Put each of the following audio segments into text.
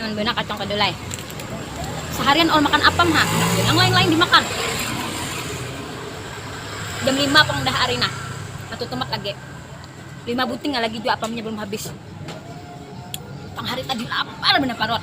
Nyaman banar kacang kedelai. Seharian all makan apam ha, handak jua nang lain-lain dimakan. Jam lima pang dah ari nah, satu tumat lagi. Lima buting lagi jua apamnya belum habis. Tang hari tadi lapar banar parut.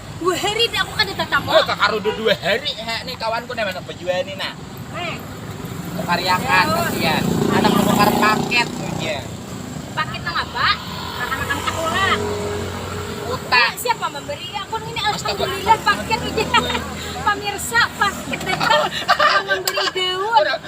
Dua hari dah aku kada tatang. Oh, kakarudu dua hari ha ni kawanku nih mana baju ni nah. Hei. Kariakan kasihan. Ada menukar paket punya. Paket nang apa? Anak-anak sekolah. Uta. Siapa memberi aku ini alhamdulillah paket aja. Pemirsa paket datang memberi daun.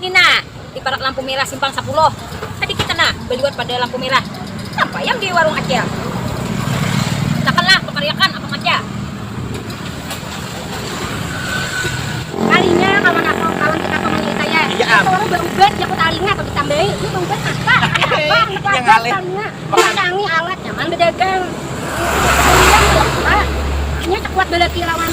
Ni nah, di parak lampu merah simpang sapuluh, tadi kita nah baliwat pada lampu merah, tampayam di warung acil. Katakan lah bakariakan abang aja. Kalinya kawan aku, kawan kita tu manggil saya, Iya am. Itu warung baubat jaku talinga atau ditambahi, ini baubat apa? Tanya abang, Iya handak wajar ngalih. talinga. Memasangi alat nyaman badagang. Ini baubat talinga handak apa? Inya cakuat balaki lawan.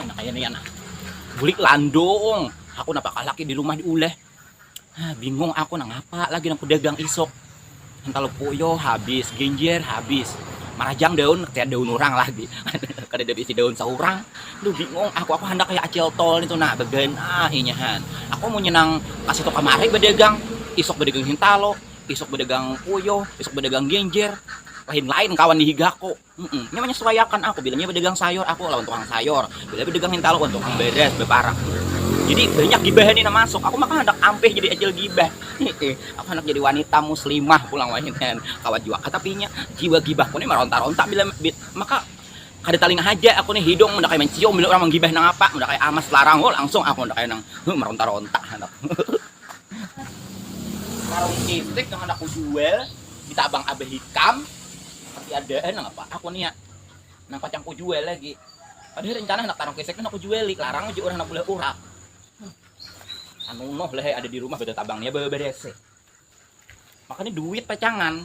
Anak kaya ni anak. Bulik landung. Aku napa kalaki di rumah diuleh. Ah, bingung aku nang apa lagi nang pedagang isok. Ental poyo habis, genjer habis. Marajang daun, kaya daun orang lagi. Kada ada bisi daun seorang. Duh bingung aku, aku handak kaya acil tol itu nah, beganah inyahan. Aku munnya nang kasitu kamari bedagang, isok bedagang hintalo. isuk badagang uyuh, isuk badagang ginjir, lain-lain kawan di higaku. Mm-mm. Nya menyesuaiakan aku, bila nya badagang sayur aku lawan tukang sayur, bila badagang hintalu lawan tukang beres, beparak. Jadi banyak gibahan ini masuk. Aku maka handak ampih jadi acil gibah. aku handak jadi wanita muslimah pulang wahinian. Kawan jua kata pinya, jiwa gibahku ni maronta-ronta bila bi- maka kada talinga haja aku ni hidung unda kaya mancium bila urang manggibah nangapa, unda kaya amas larang, oh langsung aku unda kaya nang huh, maronta-ronta handak. Warung cilik yang handak kujual di Sabang Abah Hikam, masih ada ai nang apa aku nia nang pacang kujual lagi. Padahal rencana handak tarung keseknya handak kujuali, larang haja urang handak beulah urak. Sanunuh lah ai ada di rumah betatabang nia bababar ese. Makanya duit pacangan.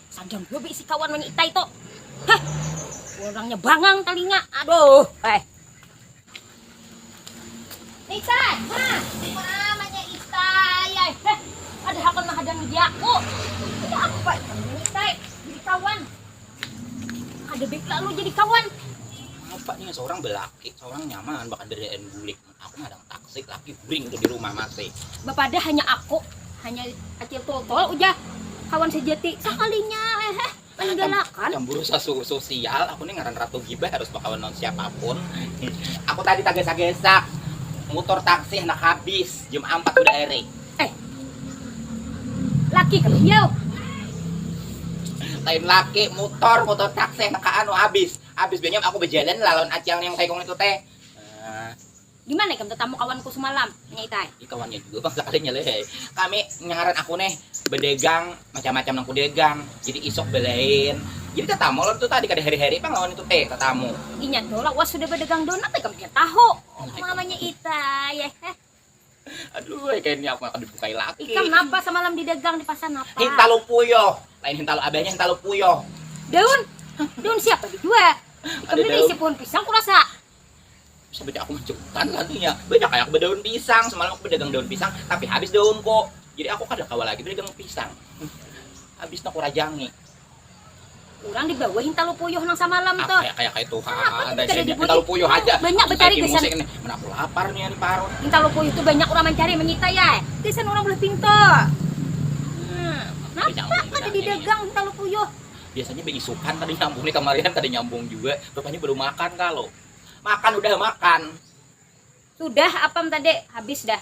Sadang jua beisi kawan wanya itai tu. Heh, orangnya bangang talinga. Aduh, eh. Itai, ha, mamanya itai, eh. Heh, ada hakon mahadangi diaku. Ada apa ikan wanya itai, jadi kawan. Ada baik lalu jadi kawan. Apa ni, seorang belaki, seorang nyaman, bakadarian bulik. Aku madang taksi laki guring tu dirumah mati. Bapadah hanya aku, hanya Acil Tultul ujah kawan sejati sakalinya hehe maninggalaakan. Camburu sosial, aku ni ngaran Ratu Gibah harus bakawan lawan siapapun. Aku tadi tagasak-gasak mutur taksi handak habis jam ampat hudah Erik. Eh. Laki kah iyau? Lain laki, mutur, mutur taksi handak kaanu habis. Habis banyam aku bajalan lah lawan Acil Niang Saikung nitu teh. Gimana ikam tetamu kawanku semalam? Nanya Itai. Ih kawannya juga bang sakalinya leh. Kami ngaran aku nih bedegang macam-macam nang kudegang. Jadi isok belain. Jadi tetamu lawan itu tadi kada heri-heri pang lawan itu teh tetamu. Inya tuh lawas sudah bedegang donat ikam pian tahu. Mamanya Itai. Aduh, eh, kayaknya aku akan dibukai lagi. Ikam napa semalam di dagang di pasar napa? Hintalu puyoh. Lain hintalu abahnya hintalu puyoh. Daun. Daun siapa di dua? Ikam ini isi pohon pisang kurasa. Bisa beda aku majukan lagi ya. Beda kayak aku berdaun pisang. Semalam aku berdagang daun pisang, tapi habis daunku. Jadi aku kada kawa lagi berdagang pisang. Habis aku rajangi. Urang di bawah hintalu puyuh nang samalam tu. Apa kaya kaya tuha ada sini hintalu puyuh haja. Banyak becari gasan ini. Mana aku lapar nih ari parut. Hintalu puyuh tu banyak urang mancari manyita ya. Gasan urang bulah pintu. Napa kada didagang hintalu puyuh. Biasanya beisukan kada nyambung nih kamarian kada nyambung juga. Rupanya belum makan kalu. Makan udah makan. Sudah apam tadi habis dah.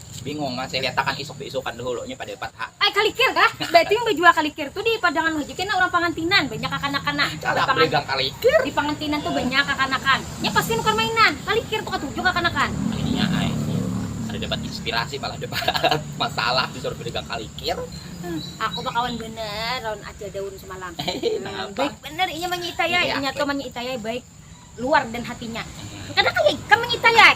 Bingung kan saya liatakan isuk beisukan dahulu nya pada dapat hak. Ai kalikir kah? Baitu yang bajual kalikir tu di padangan haja kena urang pangantinan banyak kakanakan nah. Kada aku dagang kalikir. Di pangantinan tu banyak kakanakan. Nya pasti nukar mainan. Kalikir tu katuju kakanakan. Ininya ai kada dapat inspirasi malah dapat masalah disuruh badagang kalikir. Aku bakawan banar lawan acil daun semalam. Napa? Baik banar inya manyiitayai. Inya tu manyiitayai baik luar dan hatinya. Kada kaya ikam manyiitayai.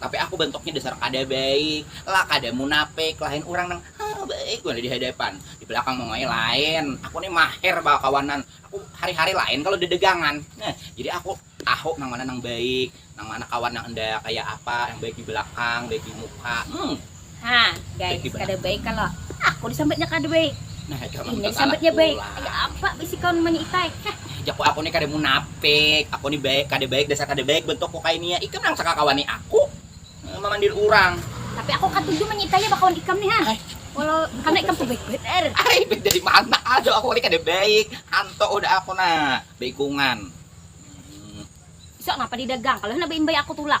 Tapi aku bentuknya dasar kada baik lah, kada munapik, lain urang nang haa baik banar dihadapan, dibelakang mongoi lain, aku ni maher bakawanan, aku hari hari lain kalo dagangan nah jadi aku tahu nang mana nang baik, nang mana kawan nang enda kaya apa, nang baik dibelakang, baik dimuka, hmm. Nah guys, kada baik kalau aku disambatnya kada baik. Nah, ini disambatnya baik. Kayak apa bisi kawan mani itai? Jaku aku nih kada munafik, aku nih baik, kada baik dasar kada baik bentukku kayak ini ya. Ikam nang sakakawani aku eh, memandir orang. Tapi aku katuju mani itai ya bakawan ikam nih ha. Walau karena ikam tuh baik bener. Ay, baik dari mana? Aduh, aku ini kada baik. Anto udah aku nah, baikungan. Hmm. Isok napa didagang? Kalau napa imbai aku tulak.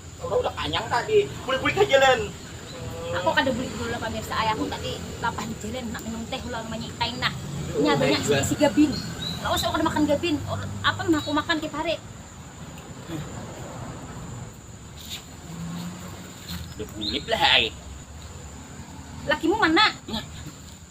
Orang udah kanyang tadi, bulik-bulik ha jalan. Aku kada bulik dulu lah pamirsa ai, aku tadi lapar di jalan handak minum teh ulun manyi tain nah. Nya banyak si isi gabin. Lawas aku kada makan gabin, apa mah aku makan tiap hari. Udah bulik lah ai. Lakimu mana?